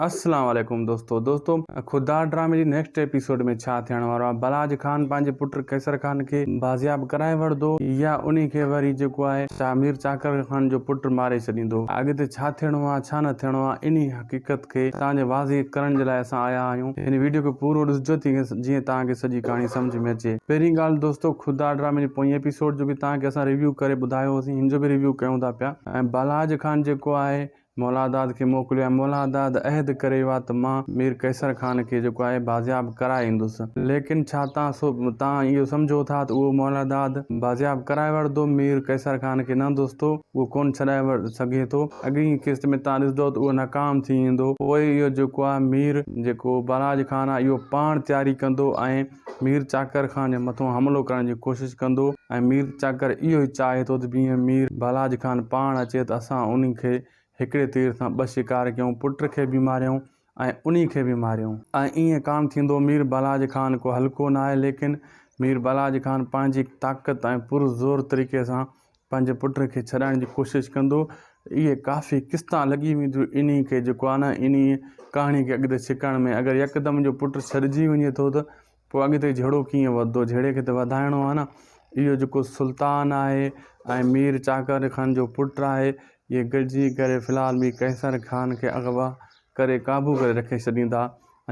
اسلام عليڪم دوستو دوستو خوددار ڊرامي جي نيڪسٽ ايپيسوڊ ۾ ڇا ٿيڻ وارو آهي بلاج خان پنهنجي پٽ قيصر خان کي بازياب ڪرائي وڙهندو يا انهي کي وري جيڪو آهي شاهه مير چاڪر خان جو پٽ ماري ڇڏيندو اڳتي ڇا ٿيڻو آهي ڇا نه ٿيڻو آهي انهي حقيقت کي توهان جي واضح ڪرڻ جي لاء اسان آيا آهيون هن ويڊيو کي پورو ڏسجو جيئن توهان کي سڄي ڪهاڻي سمجهه ۾ اچي پهرين ڳالهه دوستو خوددار ڊرامي جي پوئين ايپيسوڊ جو به توهان کي اسان ريويو ڪري ٻڌايو هوسين هن جو به ريويو ڪيون ٿا پيا ۽ بلاج خان جيڪو آهي مولاداد کي موڪليو ۽ مولاداد عهد ڪري ويو آهي ته مان مير قيصر خان کي جيڪو آهي بازياب ڪرائي ايندس. ليڪن ڇا توهان توهان اهو سمجهو ٿا ته اهو مولاداد بازياب ڪرائي وٺندو؟ مير قيصر خان کي نه دوستو، اهو ڪونه ڇڏائي سگهي ٿو. اڳئين ئي قسط ۾ توهان ڏسندؤ ته اهو ناڪام ٿي ويندو. پوء اهو جيڪو آهي مير جيڪو بالاحاج خان آهي اهو پاڻ تياري ڪندو ۽ مير چاڪر خان جي مٿان حملو ڪرڻ جي ڪوشش ڪندو ۽ مير چاڪر اهو ئي چاهي ٿو ته جيئن مير ڀالاج خان پاڻ اچي ته اسان انهي کي هڪڙي تير سان ٻه شڪار ڪيون، پٽ کي به ماريائون ۽ انهي کي به ماريائون. ۽ ائين ڪانه ٿيندو، مير ڀالاج خان ڪو هلڪو ناهي، ليڪن مير ڀالاج خان پنهنجي طاقت ۽ پر زور طريقي سان پنهنجي پٽ کي ڇڏائڻ جي ڪوشش ڪندو. اهي ڪافي قسطان لڳي وينديون انهي کي جيڪو آهي نه انهي ڪهاڻي کي اڳتي ڇڪڻ ۾ اگر يڪدم اهو پٽ ڇڏجي وڃي ٿو ته پوء اڳتي جهيڙو ڪيئن وڌندو جهيڙي کي ته وڌائڻو آهي نه اهو جيڪو سلطان آهي ۽ مير چاڪر خان جو پٽ آهي اهي گڏجي ڪري في الحال مير قيصر خان کي اغوا ڪري قابو ڪري رکي ڇڏيندا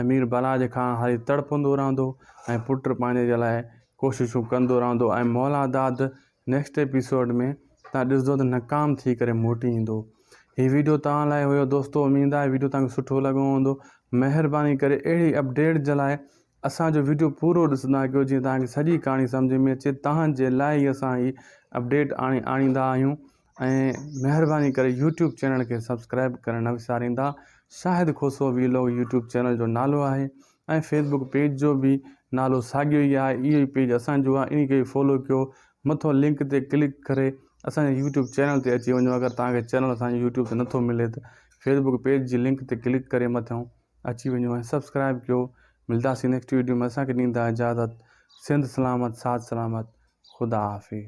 ۽ مير بلاج خان هاري تڙپندو رهندو ۽ پٽ پنهنجي جي لاء ڪوششون ڪندو رهندو ۽ مولاداد نيڪسٽ ايپيسوڊ ۾ تهان ڏسدو ته ناڪام ٿي ڪري موٽي ايندو هي ويڊيو تهان لاء هيو دوستو اميد آهي ويڊيو تهان کي سٺو لڳو هوندو مهرباني ڪري اهڙي اپڊيٽ جي لاء اسان جو ويڊيو پورو ڏسندا ڪيو جيئن تهان کي سڄي ڪهاڻي سمجهه ۾ اچي تهان جي لاء ئي اسان هي اپڊيٽ آڻي آڻيندا آهيون ۽ مهرباني ڪري يوٽيوب چينل کي سبسڪرائب ڪرڻ نه وساريندا Shahid Khoso vlog YouTube channel جو نالو آهي ۽ فيسبوڪ پيج جو به نالو ساڳيو ئي آهي اهو ئي پيج اسان جو آهي انهي کي به فالو ڪيو مٿو لنڪ تي ڪلڪ ڪري اسان جي يوٽيوب چينل تي اچي وڃو اگر توهان کي چينل اسان جو يوٽيوب تي نٿو ملي ته فيسبوڪ پيج جي لنڪ تي ڪلڪ ڪري مٿيون اچي وڃو ۽ سبسڪرائب ڪيو ملداسين نيڪسٽ ويڊيو ۾ اسان کي ڏيندا اجازت سنڌ سلامت ساٿ سلامت خدا حافظ